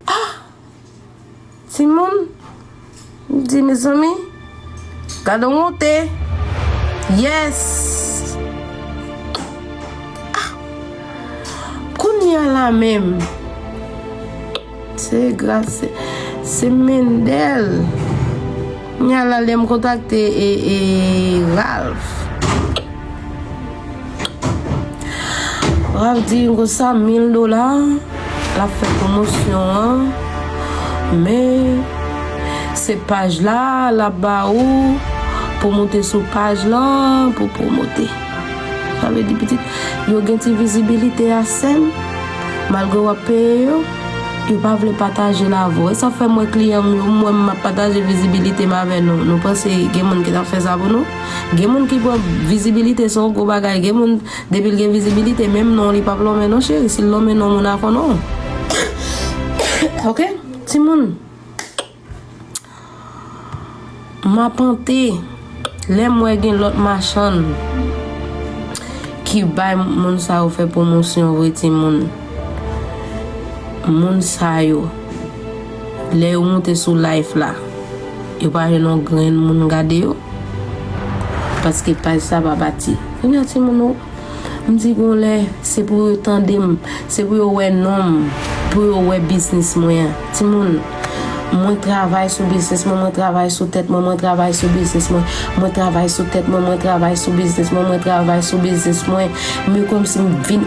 Ah! Timoun, m di mezanmi, gadon wonte! Yes! Ah! Kounye a la menm, se gras, se, se Mendel. Kounye a la lè m kontakte e, e Ralph. Ralph di yon konsa 1000 dola lap fè pwomosyon an men se paj la lap ba ou pou moute sou paj lan pou pwomote sa vle di pitit yo gen ti vizibilite a sèm malgre wap peye yo yo pa vle pataje l avè w e sa fè mwen kliyan m yo m wè m ap pataje vizibilite m avè nou nou panse gen moun ki tap fè sa pou nou. Gen moun ki pran vizibilite se yon gwo bagay, gen moun depi l gen vizibilite menm non li pap lonmen non cheri, si l lonmen non moun a konnen w ok timoun m ap pante lè m wè gen lòt machann ki bay moun sa yo fè pwomosyon vre timoun moun sa yo. Lè yo moute sou life la yo pa jwenn yon grenn moun gade yo paske paj sa pa bati kounye a timoun nou m di gon lè se pou yo tande m se pou yo wè non m pou yo wè biznis mwen an timoun mwen travay sou biznis mwen mwen travay sou tèt mwen mwen travay sou biznis mwen mwen travay sou tèt mwen mwen travay sou biznis mwen mwen travay sou biznis mwen men kòmsi m vin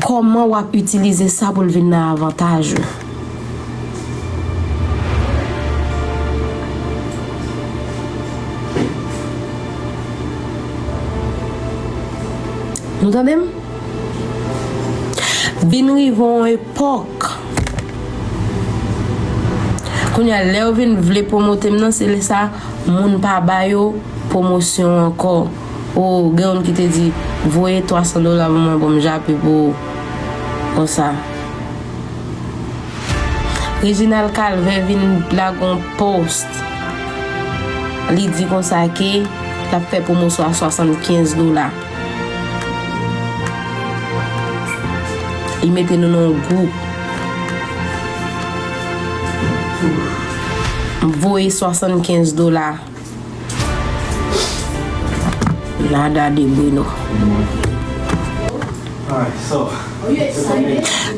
Kòman wap itilize sa pou l vin nan avantaj ou. Nou tande m? Vin rive yon epòk kounye a lè yo vin vle pwomote m nan se lè sa moun pa ba yo pwomosyon ankò. Ou gen youn ki te di voye 300 dola pou mwen pou m jape pou ou konsa. Reginald Calvin vin lage yon post li di konsa ke l ap fè pwomosyon a 75 dola. Li mete nou nan yon gwoup. M voye 75 dola. Nada de Bruno.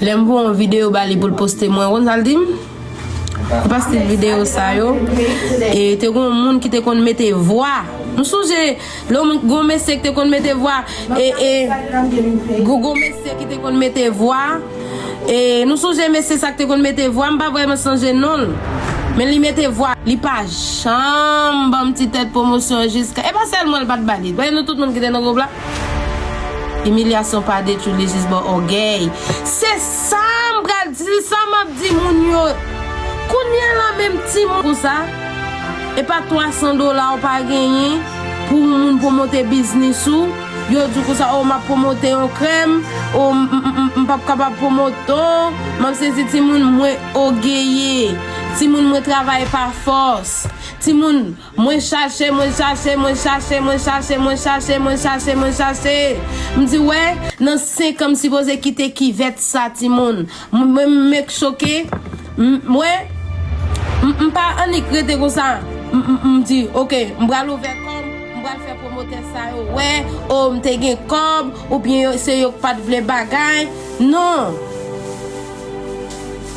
Lè m voye yon videyo ba li pou l poste mwen, ou konn sa l di m? Ou poste videyo sa yo, e te gen yon moun ki te konn mete vwa. M sonje. Lè w gon mesye ki te konn mete vwa e e gou gon mesye ki te konn mete vwa e nou sonje mesye sa ki te konn mete vwa m pa vrèman sonje non l men li mete vwa li pa janm ban m ti tèt pwomosyon jiska e pa sèlman l pa t ba li paske nou tout moun ki te nan gwoup la imilyasyon pa detwi li jis ban ògèy se sa m pral di se sa m ap di moun yo kounye a la menm timoun pou sa. Epa 300 dola ou pa genyen pou yon moun pwomote biznis ou, yo di w konsa oh map pwomote yon krèm, oh m pap kapab pwomote oh map sezi timoun mwen ogeye, timoun mwen travay pa fòs, timoun mwen chache mwen chache mwen chache mwen chache mwen chache mwen chache mwen chache m di wè nan 5 an m sipoze kite kivèt sa timoun. Mwen m ek choke m wè m pa annik rete konsa m di ok m pral ouvè kòm m pral fè pwomotè sa yo wè oh m te gen kòb oubyen se yo k pat vle bagay non.